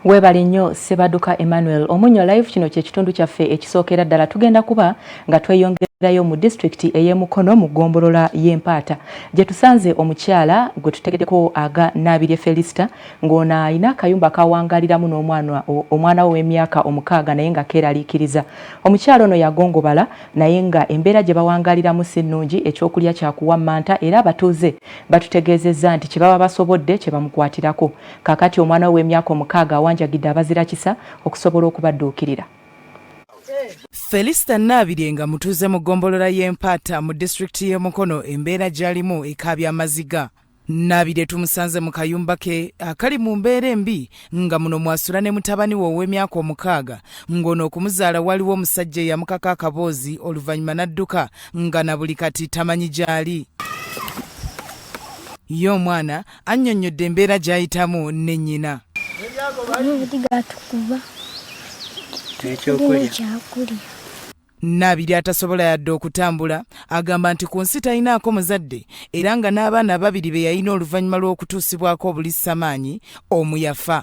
Webale nnyo Ssebaduka Emmanuel Omunyo Live kino kye kitundu kyaffe ekisookera ddala tugenda kuba nga tweyongerayo mu disitulikiti ey'e Mukono mu ggombolola y'e Mpaata gye tusanze omukyala gwe tutegeddeko aga Naabirye Felisita ng'ono alina akayumba k'awangaaliramu n'omwana omwana we ow'emyaka omukaaga naye nga keeraliikiriza. Omukyala ono yagongobala naye nga embeera gye bawangaaliramu si nnungi ekyokulya kyakuwammanta era abatuuze batutegeezezza nti kye baba basobodde kye bamukwatirako. Kaakati omwana we w'emyaka omukaaga awanjagidde abazira kisa okusobola okubadduukirira. Felista Naabirye nga mutuuze mu ggombolola y'e Mpaata mu disitulikiti y'e Mukono embeera gy'alimu ekaabya amaziga. Naabirye tumusanze mu kayumba ke akali mu mbeera embi nga muno mw'asula ne mutabani we ow'emyaka omukaaga ng'ono okumuzaala waliwo omusajja eyamukaka akaboozi oluvannyuma n'adduka nga na buli kati tamanyi gy'ali. Ye omwana annyonnyodde embeera gy'ayitamu ne nnyina Nabiri atasobola yadde okutambula agamba nti ku nsi talinaako muzadde era nga n'abaana ababiri be yalina oluvannyuma lw'okutuusibwako obulisamaanyi omu yafa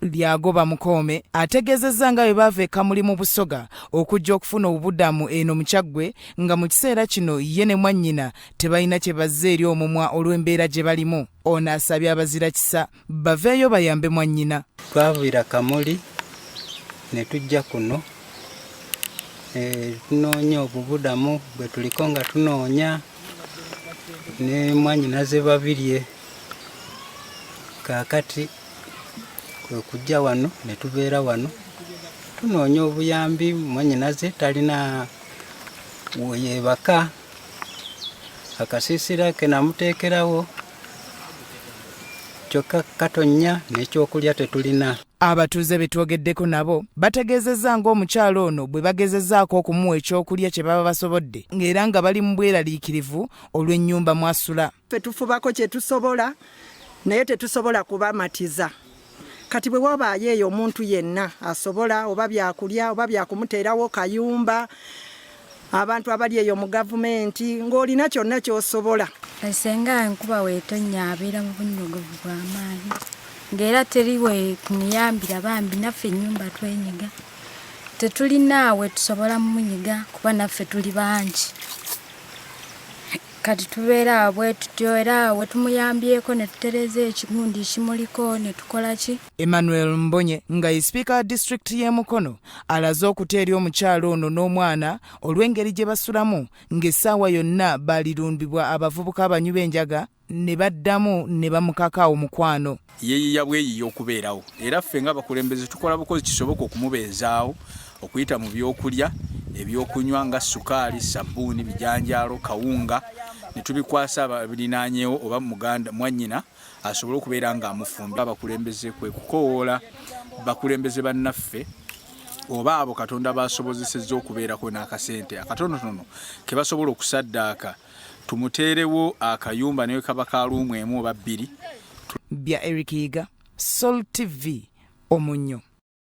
Lyagoba Mukoome ategeezezza nga bwe baava e Kamuli mu Busoga okujja okufuna obubudamu eno mu Kyaggwe nga mu kiseera kino ye ne mwannyina tebalina kye bazza eri omumwa olw'embeera gye balimu. Ono asabye abazira kisa baveeyo bayambe mwannyina. Twaviira Kamuli ne tujja kuno eh, tunoonya obubudamu bwe tuliko nga tunoonya ne mwannyinaze Babirye. kaakati kwe kujja wano ne tubeera wano tunoonya obuyambi mwanyinaze talina weyebaka akasiisira ke namuteekerawo kyokka katonnya n'ekyokulya tetulina abatuuze be twogeddeko nabo bategeezezza ng'omukyala ono bwe bagezezaako okumuwa ekyokulya kye baba basobodde ng'era nga bali mu bweraliikirivu olw'ennyumba mw'asula Ffe tufubako kye tusobola naye tetusobola kubamatiza. Kati bwe wabaayo eyo omuntu yenna asobola oba byakulya oba byakumuteerawo kayumba abantu abali eyo mu gavumenti ng'olina kyonna ky'osobola. Esenga enkuba weetonnya abeera mu bunnyogovu bw'amaanyi ng'era teri we tumuyambira bambi naffe ennyumba twenyiga tetulina we tusobola mumunyiga kuba naffe tuli bangi. Kati tubeera awo bwe tutyo era awo tumuyambyeko ne tutereeza ekigundi ekimuliko ne tukola ki. Emmanuel Mbonye nga ye sipiika wa disitulikiti y'e Mukono alaze okutya eri omukyala ono n'omwana olw'engeri gye basulamu ng'essaawa yonna baalirundibwa abavubuka abanywi b'enjaga ne baddamu ne bamukaka omukwano. yeeyiya bweyiya okubeerawo era ffe nga bakulembeze tukola bukozi kisoboka okumubeezaawo okuyita mu byokulya ebyokunywa nga sukaali sabbuuni bijanjaalo kawunga ne tubikwasa ababirinaanyeewo oba muganda mwannyina asobole okubeera ng'amufumbi abakulembeze kwe kukowoola bakulembeze bannaffe oba abo katonda baasobozesezza okubeerako n'akasente akatonotono ke basobola okusaddaaka Tumuteerewo akayumba ne wekaba ka luumu emu oba bbiri. Bya Eric Yiga, Sol TV, Omunnyo.